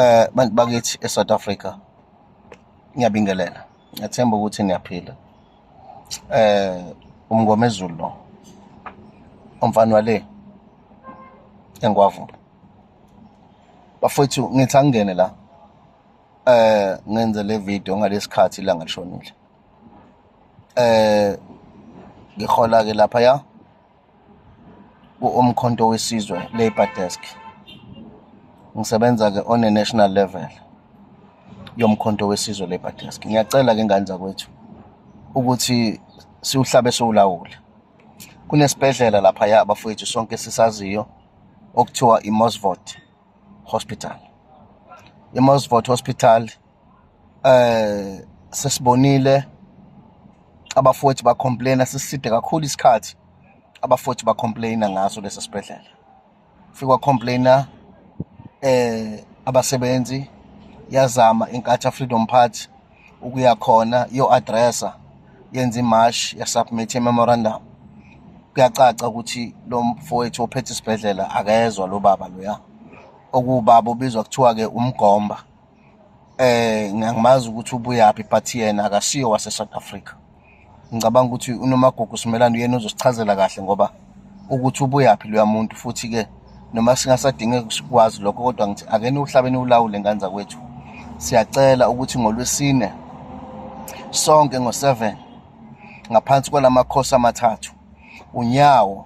Eh bantu bakithi eSouth Africa ngiyabingelela ngethemba ukuthi niyaphila eh umngomezulu lo umfana wale engwavu bafethu ngithi angene la eh ngenze le video ngalesikhathi la ngashonile eh ngihola ke lapha ya ku-Umkhonto Wesizwe Labour Desk. Ngisebenza-ke on a national level yoMkhonto Wesizwe Labour Desk. Ngiyacela-ke ngane zakwethu ukuthi siwuhlabe siwulawule. Kunesibhedlela laphaya bafowethu sonke esisaziyo okuthiwa iMosvot. Hospital. IMosfort Hospital eh sesibonile abafothi ba complain siside kakhulu isikhathi abafothi ba complain ngaso lesi sibhedlela. Fikwa complainer eh abasebenzi yazama inkatha Freedom Party ukuya khona yo addressa yenza imash ya submit memorandum kuyacaca ukuthi lo mfowethu ophethe isibhedlela akezwa lo baba loya okubaba ubizwa kuthiwa ke umgomba eh ngiyakumazi ukuthi ubuyaphi but yena akasiyo wase South Africa ngicabanga ukuthi unomagugu simelane uyena uzosichazela kahle ngoba ukuthi ubuyaphi loya muntu futhi ke noma singasadinge sikwazi lokho kodwa ngithi akeni uhlabeni ulawule ngane zakwethu siyacela ukuthi ngolwesine sonke ngo-7 ngaphansi kwalamakhosi amathathu unyawo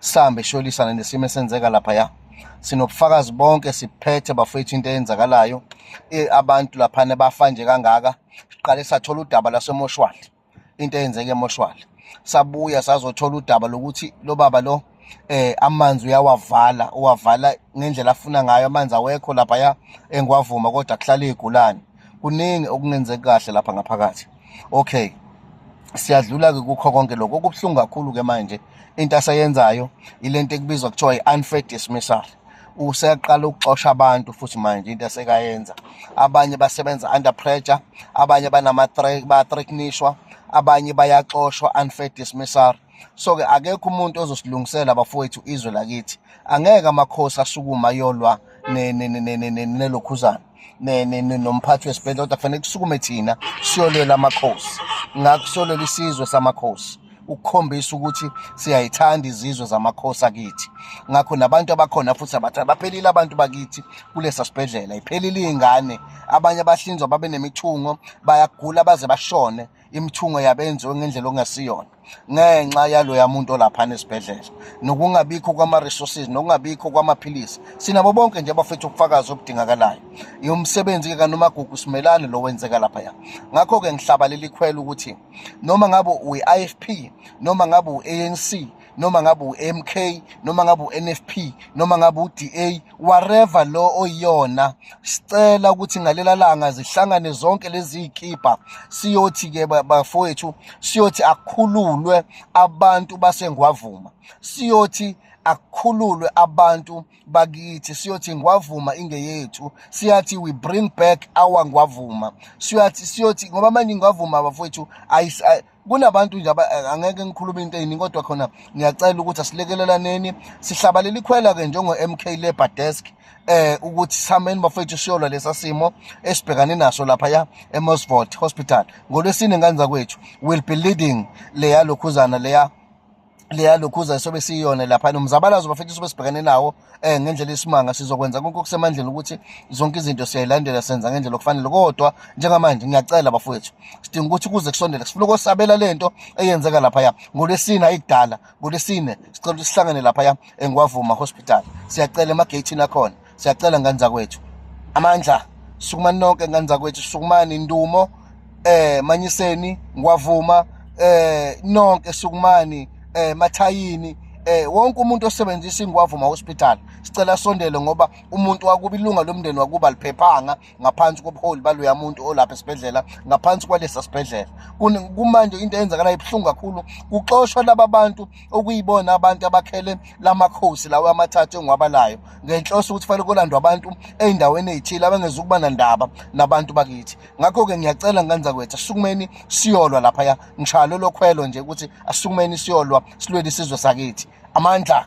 sambe sholisana nesimo esenzeka lapha ya sinobufakazi bonke siphethe bafethu into eyenzakalayo e, abantu laphana bafa nje kangaka siqale sathola udaba lasemoshwali into eyenzeke emoshwali sabuya sazothola udaba lokuthi lo baba lo eh amanzi uyawavala uwavala ngendlela afuna ngayo amanzi awekho lapha ya engwavuma kodwa kuhlala igulani kuningi okungenzeki kahle lapha ngaphakathi okay siyadlula-ke kukho konke lokho okubuhlungu kakhulu-ke manje into aseyenzayo ilento ekubizwa kuthiwa i-unfair dismissal useyaqala ukuxosha abantu futhi manje into esekayenza abanye basebenza under pressure abanye banama-threatnishwa abanye bayaxoshwa unfair dismissal so-ke akekho umuntu ozosilungisela bafowethu izwe lakithi angeke amakhosi asukuma yolwa nelokhuzana nomphathi wesibhedlela kodwa kufanele kusukume thina siyolwela amakhosi ngakho siyolwela isizwe samakhosi ukukhombisa ukuthi siyayithanda izizwe zamakhosi akithi ngakho nabantu abakhona futhi abathanda baphelile abantu bakithi kulesa sibhedlela iphelile iy'ngane abanye abahlinzwa babe nemithungo bayagula baze bashone imithungo yabe yenziwe ngendlela okungasiyona ngenxa yaloya muntu olaphana esibhedlela nokungabikho kwama-resources nokungabikho kwamaphilisi sinabo bonke nje abafethu ubufakazi obudingakalayo yomsebenzi-ke kanomagugu simelane lo wenzeka laphaya ngakho-ke ngihlabalela ikhwela ukuthi noma ngabe uyi-i f p noma ngabe u-a n c noma ngabe uMK noma ngabe uNFP noma ngabe uDA whatever lo oyiyona sicela ukuthi ngalela langa zihlangane zonke lezi ikipa siyothi ke bafowethu siyothi akhululwe abantu basengwavuma siyothi akukhululwe abantu bakithi siyothi ngwavuma ingeyethu siyathi we bring back our ngwavuma siyathi siyothi ngoba manje ingwavuma bafowethu kunabantu nje eh, angeke ngikhulume into eyiningi kodwa khona ngiyacela ukuthi asilekelelaneni sihlabalela ikhwela-ke njengo-m k labour desk eh ukuthi sameni bafethu siyolwa lesa simo esibhekane naso lapha ya emosvort hospital ngolwesine ngane zakwethu will be leading leya lokhuzana leya leya lokhuza sobe siyona lapha nomzabalazo bafethu sobe sibhekene nawo eh ngendlela isimanga sizokwenza konke okusemandleni ukuthi zonke izinto siyayilandela senza ngendlela okufanele kodwa njengamanje ngiyacela bafowethu sidinga ukuthi kuze kusondele sifuna ukosabela lento eyenzeka lapha ya ngolesine ayidala ngolesine sicela ukuthi sihlangane lapha ya engwavuma hospital siyacela emagate nakhona siyacela ngane zakwethu amandla sukumani nonke ngane zakwethu sukumani ndumo eh manyiseni ngwavuma eh nonke sukumani eh mathayini eh wonke umuntu osebenzisa ingwavuma hospital sicela sondele ngoba umuntu wakuba ilunga lomndeni wakuba liphephanga ngaphansi kobuholi baloya muntu olapha esibhedlela ngaphansi kwalesa sibhedlela kumanje into eyenzakalayo ibuhlungu kakhulu kuxoshwa laba bantu okuyibona abantu abakhele lamakhosi lawo amathathu engiwabalayo ngenhloso ukuthi fanele kolandwa abantu ey'ndaweni ey'thile abangezukuba nandaba nabantu bakithi ngakho-ke ngiyacela ngenza kwethu asukumeni siyolwa laphaya ngishaya lolo khwelo nje ukuthi asukumeni siyolwa silwele isizwe sakithi amandla